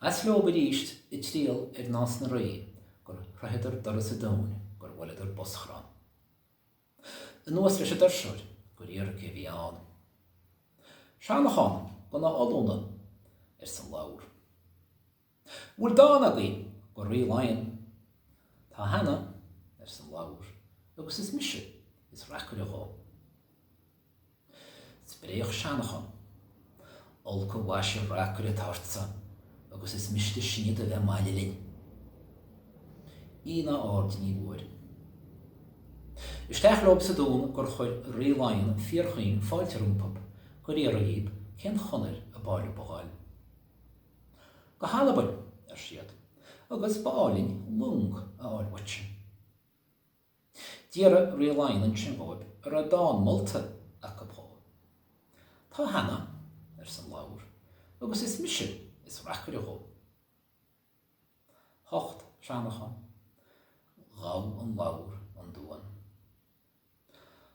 As leob arís ag triall ar Nás na Rí gur shroicheadar doras an dúin, gur bhuaileadar boschrann. Anuas leis an doirseoir gur iarr cé a bhí ann. Seanchán gona ollúna, arsa an lobhar. An bhfuil dán agaibh go Rí Laighean? Tá cheana, arsa an lobhar, agus is mise is reacaire dhó. Spréach Seanchán. Olc an mhaise reacaire atá ortsa agus is miste sinn do bheith maille linn. Aon aird ní bhfuair. Isteach leob sa dún gur chuir Rí Laighean fíorchaoin fáilte rompub, gur iarr dhíob cén chonair ab áil leob a ghabháil. Go hAlbain, ar siad, agus ba áil linn long a fháil uaitse. D'fhiafraigh Rí Laighean ansin dhóib an raibh dán molta acu dhó. Tá cheana, arsa an lobhar, agus is mise is reacaire dhó. Thocht Seanchán, ghabh an lobhar an duan.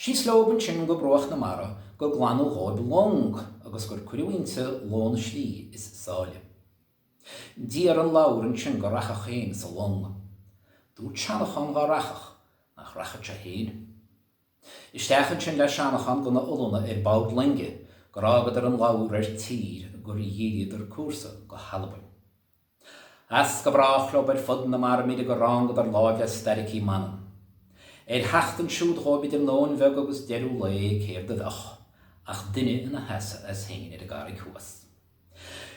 Síos leob ansin go bruach na mara gur glanadh dhóib long agus gur cuireadh inti lón slí is sáile. D'iarr an lobhar ansin go rachfadh féin sa long. Dúirt Seanchán dhá rachfadh, nach rachfadh sé féin. Isteach ansin le Seanchán gona ollúna ar bord loinge gur fhágadar an lobhar ar tír gur dhíríodar cúrsa go hAlbain. As go brách leo ar fud na mara mire go rángadar láimh le starraicí Manann. Ar theacht ansiúd dhóibh idir nóin bheag agus deireadh lae céard a bheadh ach duine ina sheasamh as féin ar an gcarraig thuas.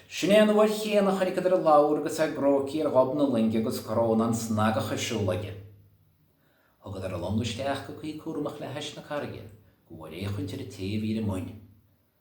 Sin é an uair chéanna a choinniceadar an lobhar agus é gróigthe ar ghob na loinge agus crónán snagach ar siúl aige. Thugadar an long isteach go cuí cúramach le hais na carraige go bhfuair féachaint ar an té a bhí ar a muin.